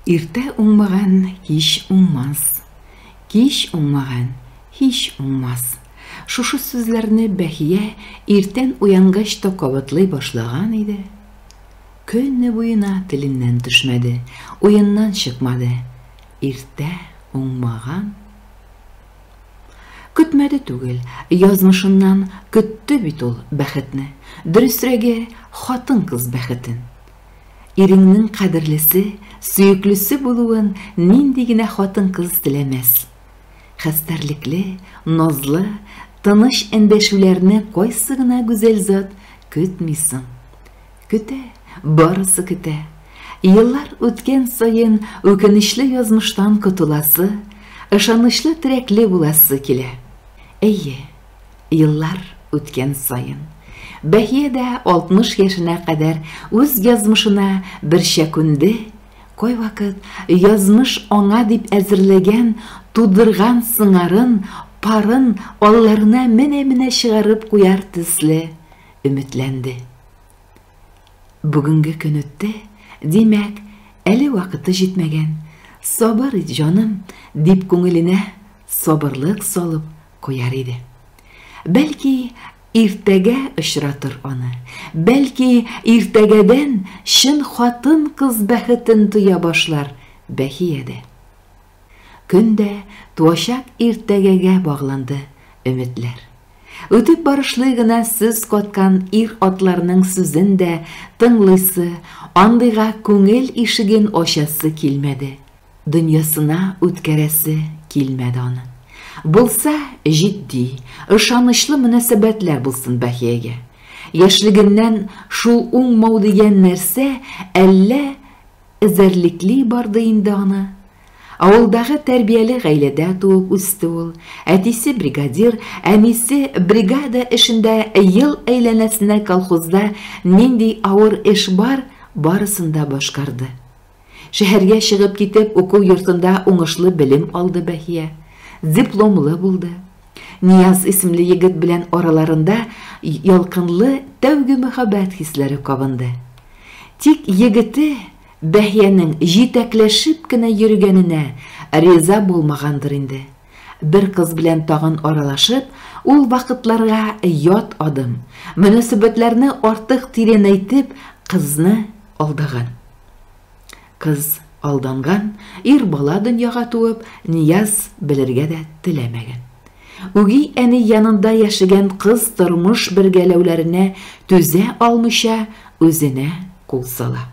Иртә уңмаган кич уңмас. Кич уңмаган һич уңмас. Шушы сүзләрне Бәхия иртән уянгач та кабатлый башлаган иде. Көне буена теленнән төшмәде, уеннан чыкмады. Иртә уңмаган. Көтмәде түгел, язмышыннан көтте бит ул бәхетне. Дөресрәге, хатын-кыз бәхетен. Иреңнең кадерлесе, сөеклесе булуын нинди генә хатын-кыз теләмәс! Хәстәрлекле, назлы, тыныч эндәшүләрне кайсы гына гүзәл зат көтми соң! Көтә, барысы көтә. Еллар үткән саен үкенечле язмыштан котыласы, ышанычлы терәкле буласы килә. Әйе. Еллар үткән саен Бәһия дә 60 яшенә кадәр үз язмышына берчә күнде, кайвакыт язмыш аңа дип әзерләгән, тудырган сыңарын, парын алларына менә-менә чыгарып куяр төсле өметләнде. Бүгенге көн үтте, димәк, әле вакыты җитмәгән. Сабыр ит, җаным, дип күңеленә сабырлык салып Куяр иде. Бәлки, иртәгә очратыр аны. Бәлки, иртәгәдән чын хатын-кыз бәхетен тоя башлар Бәхия дә. Көн дә туачак иртәгәгә багланды өметләр. Үтеп барышлый гына сүз каткан ир-атларның сүзен дә тыңлыйсы, андыйга күңел ишеген ачасы килмәде. Дөньясына үткәрәсе килмәде аны. Булса, җитди, ышанычлы мөнәсәбәтләр булсын Бәхиягә. Яшьлегеннән шул уңмау дигән нәрсә әллә эзәрлекли барды инде аны. Авылдагы тәрбияле гаиләдә туып үсте ул. Әтисе бригадир, әнисе бригада эшендә ел әйләнәсенә колхозда нинди авыр эш бар, барысын да башкарды. Шәһәргә чыгып китеп, уку йортында уңышлы белем алды Бәһия. Дипломлы булды. Нияз исемле егет белән араларында ялкынлы тәүге мәхәббәт хисләре кабынды. Тик егете Бәһиянең җитәкләшеп кенә йөргәненә риза булмагандыр инде. Бер кыз белән тагын аралашып, ул вакытларга ят адым, мөнәсәбәтләрне артык тирәнәйтеп, кызны алдаган. Кыз алданган, ир бала дөньяга туып, Нияз белергә дә теләмәгән. Үги әни янында яшәгән кыз тормыш бергәләүләренә түзә алмыйча, үзенә кул сала.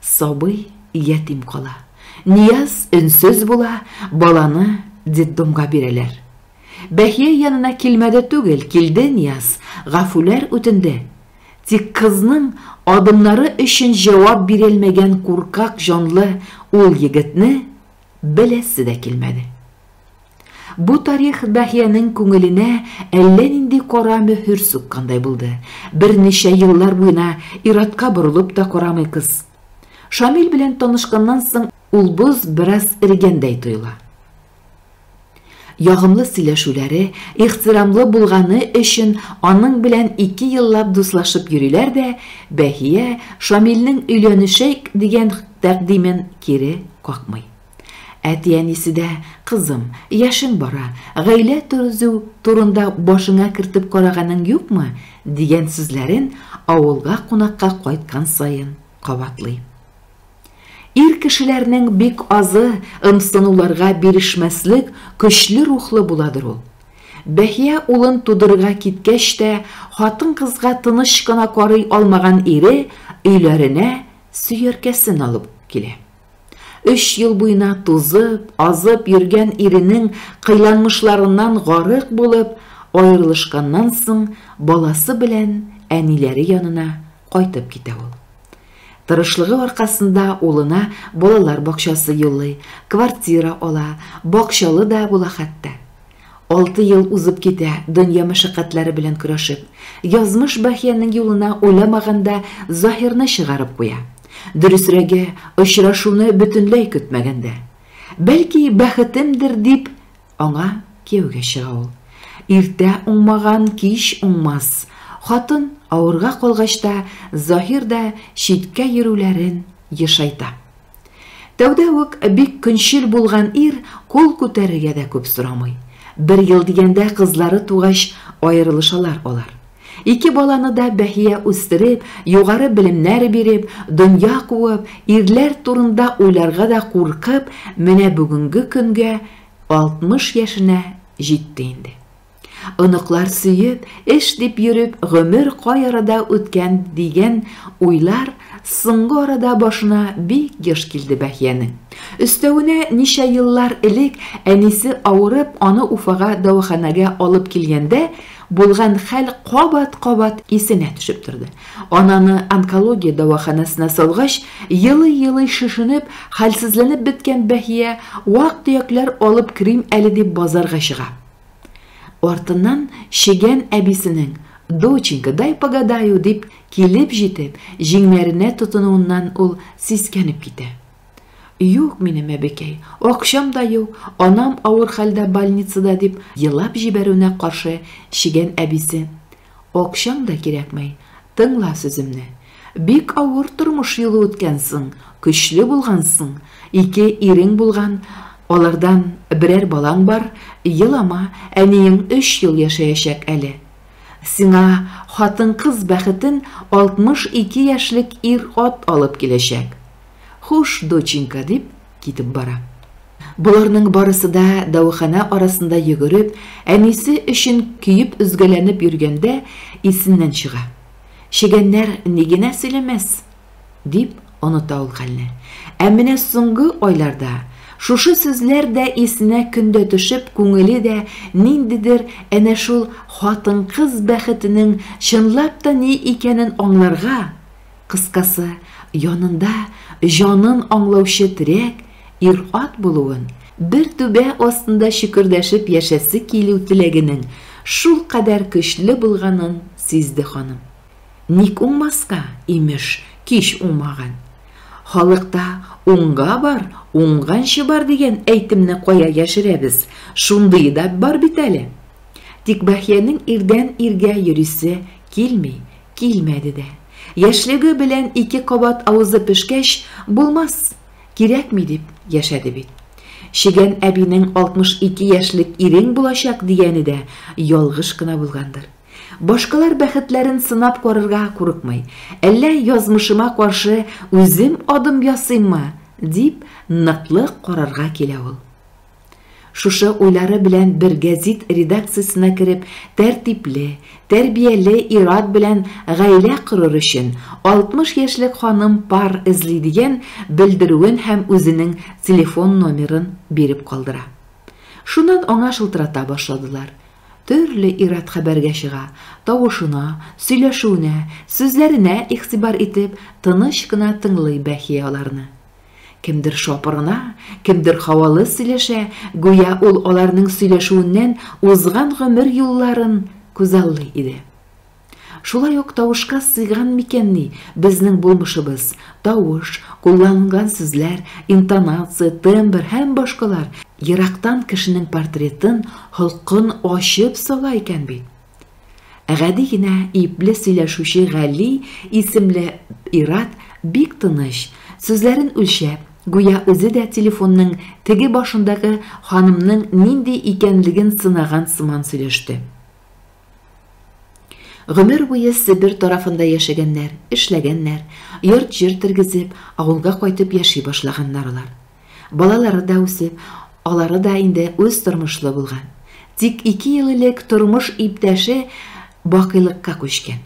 Сабый ятим кала. Нияз өнсез була, баланы детдомга бирәләр. Бәхия янына килмәде түгел, килде Нияз, гафүләр үтенде. Тик кызның адымнары өчен җавап бирелмәгән куркак җанлы ул егетне беләсе дә килмәде. Бу тарих Даһиянең күңеленә әллә нинди кара мөһер суккандай булды. Берничә еллар буена ир-атка борылып та карамый кыз. Шамил белән танышканнан соң ул боз бераз эрегәндәй тоела. Ягымлы сөйләшүләре, ихтирамлы булганы өчен аның белән ике еллап дуслашып йөриләр дә Бәһия Шамилнең өйләнешәйк дигән тәкъдимен кире какмый. Әти-әнисе дә, Кызым, яшең бара, гаилә төрзү турында башыңа кертеп караганың юкмы? дигән сүзләрен авылга кунакка кайткан саен кабатлый. Ир кешеләрнең бик азы ымсынуларга бирешмәслек көчле рухлы буладыр ул. Бәхия улын тудырырга киткәч тә, хатын-кызга тыныч кына карый алмаган ире өйләренә сөяркәсен алып килә. Өч ел буена тузып, азып йөргән иренең кыйланмышларыннан гарык булып, аерылышканнан соң баласы белән әниләре янына Кайтып китә ул. Тырышлыгы аркасында улына балалар бакчасы юллый, квартира ала, бакчалы да була хәтта. Алты ел узып китә, дөнья мәшәкатьләре белән көрәшеп. Язмыш Бәхиянең юлына уйламаганда Заһирны чыгарып куя. Дөресрәге, очрашуны бөтенләй көтмәгәндә. Бәлки, бәхетемдер дип, Аңа кияүгә чыга ул. Иртә уңмаган кич уңмас. Хатын авырга калгач та Заһир да читкә йөрүләрен ешайта. Тәүдә үк бик көнчел булган ир кул күтәрергә дә күп сорамый. Бер ел дигәндә кызлары тугач аерылышалар алар. Ике баланы да Бәһия үстереп, югары белемнәр биреп, дөнья куып, ирләр турында уйларга да куркып, менә бүгенге көнгә 60 яшенә җитте инде. Оныклар сөеп, эш дип йөреп, гомер кай арада үткән дигән уйлар соңгы арада башына бик еш килде Бәһиянең. Өстәвенә ничә еллар элек әнисе авырып, аны Уфага дәваханәгә алып килгәндә, Булган хәл кабат-кабат исенә төшеп торды. Ананы онкология дәваханәсенә салгач, елый-елый шешенеп, хәлсезләнеп беткән Бәһия вак-төякләр алып керим әле дип базарга чыга. Артыннан чегән әбисенең, Доченька, дай погадаю, дип килеп җитеп, җиңнәренә тотынуыннан ул сискәнеп китә. Юк минем әбекәй, акчам да юк, анам авыр хәлдә больницада, дип елап җибәрүенә каршы чигән әбисе. Акчаң да кирәкмәй, тыңла сүземне. Бик авыр тормыш юлы үткәнсең, көчле булгансың, ике ирең булган, алардан берәр балаң бар, елама, әниең өч ел яшәячәк әле. Сиңа хатын-кыз бәхетен 62 яшьлек ир-ат алып киләчәк. Хуш, доченька, дип, китеп бара. Боларның барысы да дәваханә арасында йөгереп, әнисе өчен көеп-өзгәләнеп йөргәндә исеннән чыга. Чегәннәр ни генә сөйләмәс! дип, оныта ул хәлне. Ә менә соңгы айларда шушы сүзләр дә исенә көн дә төшеп, күңеле дә ниндидер әнә шул хатын-кыз бәхетенең чынлап та ни икәнен аңларга, Кыскасы, янында җанын аңлаучы терәк ир-ат булуын, бер түбә астында чөкердәшеп яшәсе килү теләгенең шулкадәр көчле булганын сизде ханым. Ник уңмаска, имеш, кич уңмаган. Халыкта Уңга бар, уңганчы бар дигән әйтемне кая яшерәбез, шундые да бар бит әле. Тик Бәхиянең ирдән-иргә йөрисе килми, Килмәде дә. Яшьлеге белән ике кабат авызы пешкәч, булмас, кирәкми дип яшәде бит. Чегән әбинең 62 яшьлек ирең булачак дигәне дә ялгыш кына булгандыр. Башкалар бәхетләрен сынап карарга курыкмый. Әллә язмышыма каршы үзем адым ясыйммы? дип ныклы карарга килә ул. Шушы уйлары белән бер гәзит редакциясенә кереп, тәртипле, тәрбияле ир-ат белән гаилә корыр өчен 60 яшьлек ханым пар эзли дигән белдерүен һәм үзенең телефон номерын биреп калдыра. Шуннан аңа шылтырата башладылар. Төрле ир-ат хәбәргә чыга, тавышына, сөйләшүенә, сүзләренә игътибар итеп, тыныч кына тыңлый Бәхия аларны. Кемдер шапырына, кемдер һавалы сөйләшә, гүя ул аларның сөйләшүеннән узган гомер юлларын күзаллый иде. Шулай ук тавышка сыйган микәнни безнең булмышыбыз, тавыш, кулланылган сүзләр, интонация, тембр һәм башкалар ерактан кешенең портретын, холкын ачып сала икән бит. Гади генә ипле сөйләшүче Гали исемле ир-ат бик тыныч, сүзләрен үлчәп, гүя үзе дә телефонның теге башындагы ханымның нинди икәнлеген сынаган сыман сөйләште. Гомер буе Себер тарафында яшәгәннәр, эшләгәннәр, йорт-җир тергезеп, авылга кайтып яши башлаганнар алар. Балалары да үсеп, алары да инде үз тормышлы булган. Тик ике ел элек тормыш иптәше бакыйлыкка күчкән.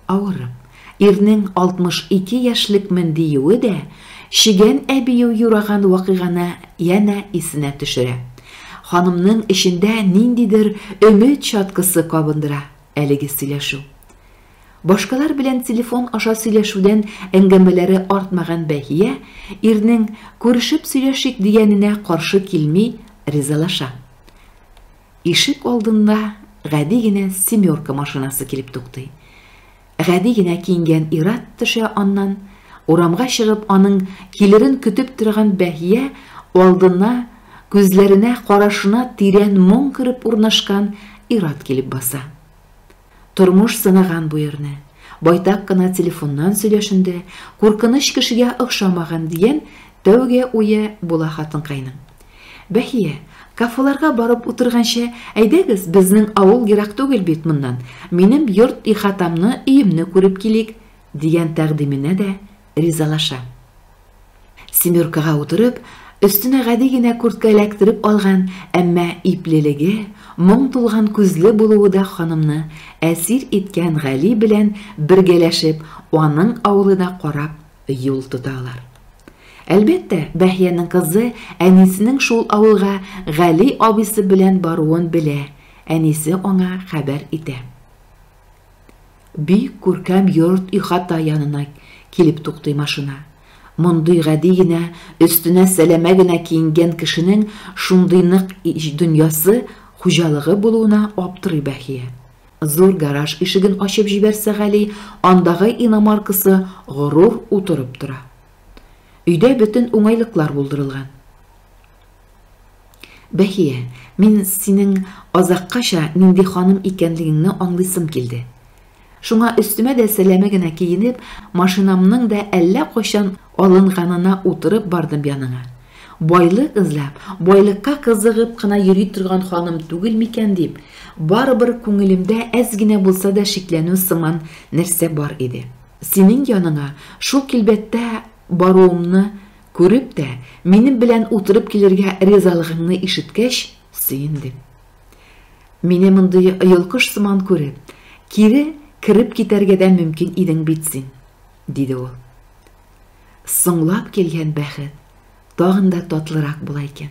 Авырып, ирнең 62 яшьлекмен диюе дә чегән әбию юраган вакыйганы янә исенә төшерә. Ханымның эчендә ниндидер өмет чаткысы кабындыра әлеге сөйләшү. Башкалар белән телефон аша сөйләшүдән әңгәмәләре артмаган Бәһия ирнең күрешеп сөйләшик дигәненә каршы килми, ризалаша. Ишек алдында гади генә семерка машинасы килеп туктый. Гади генә киенгән ир-ат төшә аннан, урамга чыгып, аның килерен көтеп торган Бәһия алдына, күзләренә, карашына тирән моң кереп урнашкан ир-ат килеп баса. Тормыш сынаган бу ирне. Байтак кына телефоннан сөйләшенде, куркыныч кешегә охшамаган, дигән тәүге уе була хатынкайның. Бәхия, кафеларга барып утырганчы, әйдәгез, безнең авыл ерак түгел бит моннан, минем йорт ихатамны, өемне күреп килик, дигән тәкъдименә дә Ризалаша. Семеркага утырып, өстенә гади генә куртка эләктереп алган, әмма иплелеге, моң тулган күзле булуы да ханымны әсир иткән Гали белән бергәләшеп, аның авылы да карап юл тота алар. Әлбәттә, Бәһиянең кызы әнисенең шул авылга Гали абыйсы белән баруын белә, әнисе аңа хәбәр итә. Бик күркәм йорт-ихата янына килеп туктый машина. Мондый гади генә, өстенә сәләмә генә киенгән кешенең шундый нык дөньясы, хуҗалыгы булуына аптырый Бәхия. Зур гараж ишеген ачып җибәрсә Гали, андагы иномаркасы горур утырып тора. Өйдә бөтен уңайлыклар булдырылган. Бәхия, мин синең азаккача нинди ханым икәнлегеңне аңлыйсым килде. Шуңа өстемә дә сәләмә генә киенеп, машинамның да әллә кайчан алынганына утырып бардым яныңа. Байлык эзләп, байлыкка кызыгып кына йөри торган ханым түгел микән дип, барыбер күңелемдә әз генә булса да шикләнү сыман нәрсә бар иде. Синең яныңа шул килбәттә баруымны Күреп тә, минем белән утырып килергә ризалыгыңны ишеткәч, сөендем. Мине мондый йолкыш сыман күреп, кире кереп китәргә дә мөмкин идең бит син, диде ул. Соңлап килгән бәхет тагын да татлырак була икән.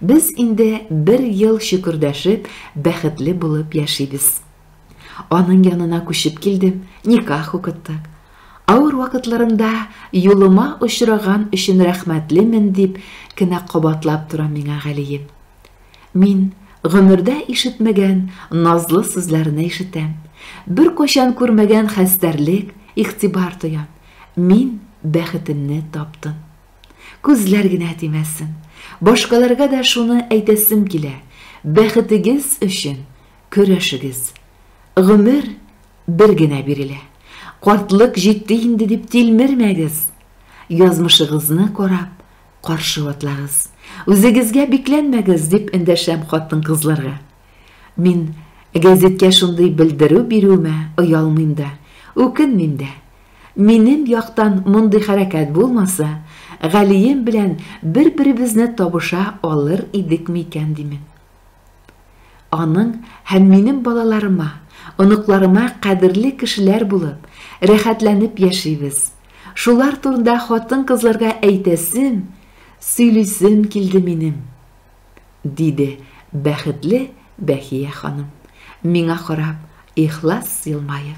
Без инде бер ел шөкердәшеп, бәхетле булып яшибез. Аның янына күчеп килдем, никах укыттык. Авыр вакытларымда юлыма очраган өчен рәхмәтлемен дип кенә кабатлап тора миңа Галием. Мин гомердә ишетмәгән назлы сүзләрне ишетәм. Бер кайчан күрмәгән хәстәрлек, игътибар тоям. Мин бәхетемне таптым. Күзләр генә тимәсен. Башкаларга да шуны әйтәсем килә. Бәхетегез өчен Көрәшегез. Гомер бер генә бирелә. Картлык җитте инде дип тилмермәгез. Язмышыгызны карап, каршы атлагыз. Үзегезгә бикләнмәгез, дип эндәшәм хатын-кызларга. Мин гәзиткә шундый белдерү бирүемә оялмыйм да, үкенмим дә. Минем яктан мондый хәрәкәт булмаса, Галием белән бер-беребезне табыша алыр идекме икән димен. Аның һәм минем балаларыма, оныкларыма кадерле кешеләр булып, рәхәтләнеп яшибез. Шулар турында хатын-кызларга әйтәсем, сөйлисем килде минем, диде бәхетле Бәхия ханым, миңа карап, ихлас елмаеп.